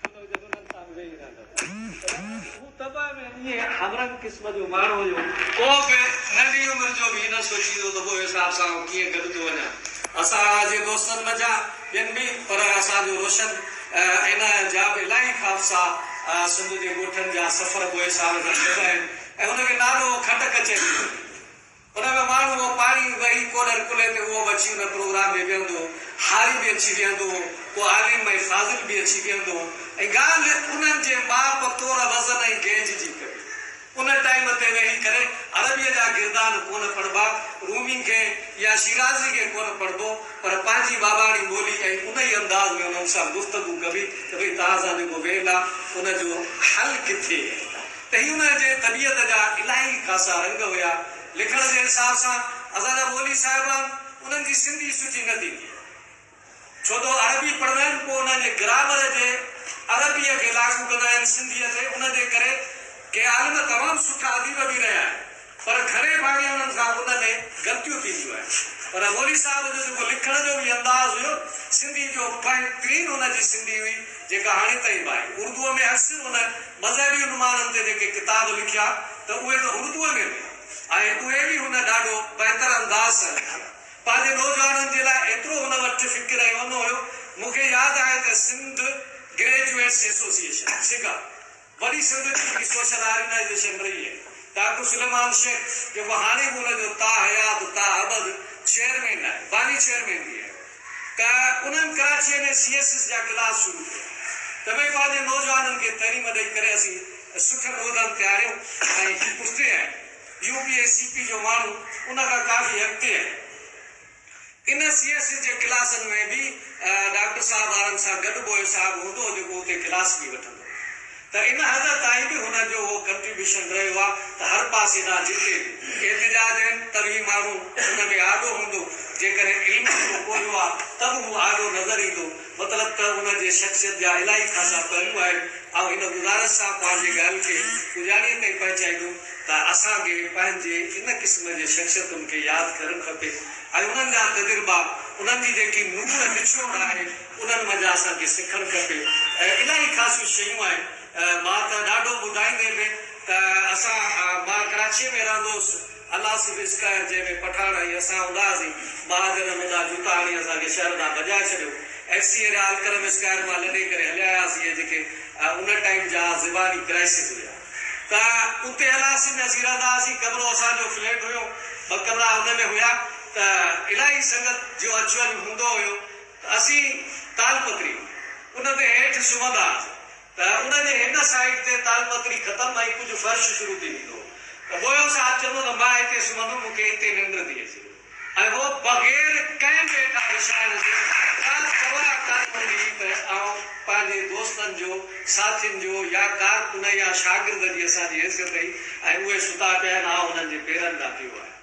ڪيترو جو هن سان ويهي رهندو پر هو طبع ۾ ائين هم رنگ قسم جو ماڻهو هيو. پوء به ننڍي عمر جو به هي نه سوچيندو ته پوء صاحب سان آئون ڪيئن گڏ ٿو وڃان. اسان جي دوستن منجهان ٻين به پر اسان جو روشن ان جا به الاهي خاصا سنڌ جي ڳوٺن جا سفر پوء صاحب سان گڏ آهن ۽ هن کي نالو کٽ ڪچهري جو هيو. ان ۾ ماڻهو اهو پاڻي وهي ڪولهر ڪلهي تي اهو به اچي ان پروگرام ۾ ويهندو هو، هاري به اچي ويهندو هو، ڪو عالم ۽ فاضل به اچي ويهندو هو ۽ ڳالهه انهن جي ماپ تور وزن ۽ گيج جي ڪري ان ٽائيم تي ويهي ڪري عربيء جا گردان ڪونه پڙهبا، رومي گي يا شيرازي گي ڪونه پڙهبو پر پنهنجي ٻاٻاڻي ٻولي ۽ انهي انداز ۾ انهن سان گفتگو ڪبي ته ڀئي توهان سان جيڪو ويهندا ان جو حل ڪٿي؟ ته هي ان جي طبيعت جا الاهي خاصا رنگ هيا. لکڻ جي حساب سان اسانجا مولوي صاحبان انهن جي سنڌي سٺي نه ٿيندي هئي. ڇوته عربي پڙهندا آهن پوء انهن جي گرامر جي عربيء کي لاڳو ڪندا آهن سنڌيء تي ان جي ڪري ڪي عالم تمام سٺا اديب به رهيا آهن. پر گهڻي ڀاڱي انهن کان ان ۾ غلطيون ٿينديون آهن. پر مولوي صاحب جو جيڪو لکڻ جو به انداز هيو نه، سنڌي جو بهترين ان جي سنڌي هئي، جيڪا هاڻي تائين به آهي. اردوء ۾ اڪثر ان مذهبي عنوانن تي جيڪي ڪتاب لکيا ته اهي ته اردوء ۾ هئا ۽ اهي به هن ڏاڍو بهتر انداز سان لکيا. پنهنجي نوجوانن جي لاء ايترو هن وٽ فڪر ۽ اونو هيو. مون کي ياد آهي ته سنڌ گريجوئيٽس ايسوسيئيشن، سگا، وڏي سنڌ جي هڪ سوشل آرگنائيزيشن رهي آهي. ڊاڪٽر سليمان شيخ جيڪو هاڻي به ان جو تا حيات تا ابد چيئرمين آهي، باني چيئرمين به آهي ته انهن ڪراچيء ۾ سي ايس ايس جا ڪلاس شروع ڪيا ته ڀئي پنهنجي نوجوانن کي تعليم ڏئي ڪري اسين سٺن عهدن تي آهيون ۽ هي پٺتي آهن. يو پي ۽ سي پي جو ماڻهو ان کان ڪافي اڳتي آهن. ان سي ايس سي جي ڪلاسن ۾ به ڊاڪٽر صاحب وارن سان گڏ ٻوهه صاحب هوندو هو جيڪو اتي ڪلاس به وٺندو هو ته ان حد تائين به هن جو اهو ڪنٽريبيوشن رهيو آهي ته هر پاسي ڏانهن جتي به احتجاج آهن ته به ماڻهو ان ۾ آڏو هوندو جيڪڏهن علمي ڪو ڪوهيو آهي ته به هو آڏو نظر ايندو. مطلب ته ان جي شخصيت جا الاهي خاصا پهلو آهن. آئون هن گذارش سان پنهنجي ڳالهه کي پڄاڻيء تائين پهچائيندم ته اسان کي پنهنجي ان قسم جي شخصيتن کي ياد ڪرڻ کپي ۽ انهن جا تجربا، انهن جي جيڪي نوڙ نچوڙ آهي، انهن منجهان اسان کي سکڻ کپي. الاهي خاصيون شيون آهن. مان ته ڏاڍو ٻڌائيندي به ته اسان مان ڪراچيء ۾ رهندو هوس. الاسف اسڪائر جنهن ۾ پٺاڻ ۽ اسان هوندا هئاسين، ٻار جنم هوندا جوتا هڻي اسان کي شهر ڏانهن ڀڄائي ڇڏيو. F C area Alkaram square مان لڏي ڪري هليا آياسين ۽ جيڪي ان ٽائيم جا زباني ڪرائسز هيا ته اتي الاسف ۾ اسين رهندا هئاسين. ڪمرو اسان جو فليٽ هيو، ٻه ڪمرا ان ۾ هيا ته الاهي سنگت جو اچ وڃ هوندو هيو ته اسين تالپتري ان تي هيٺ سمهندا هئاسين. ته ان جي هن سائيڊ تي تالپتري ختم ۽ ڪجهه فرش شروع ٿي ويندو ته بويو صاحب چوندو ته مان هتي سمهندم، مون کي هتي ننڊ ٿي اچي ۽ هو بغير ڪنهن به هيٺان وڇائڻ جي ڪا پرواهه ڪانه هوندي هئي ته آئون پنهنجي دوستن جو، ساٿين جو يا ڪارڪن يا شاگرد جي اسان جي حيثيت هئي ۽ اهي ستا پيا آهن، آئون انهن جي پيرن ڏانهن پيو آيم.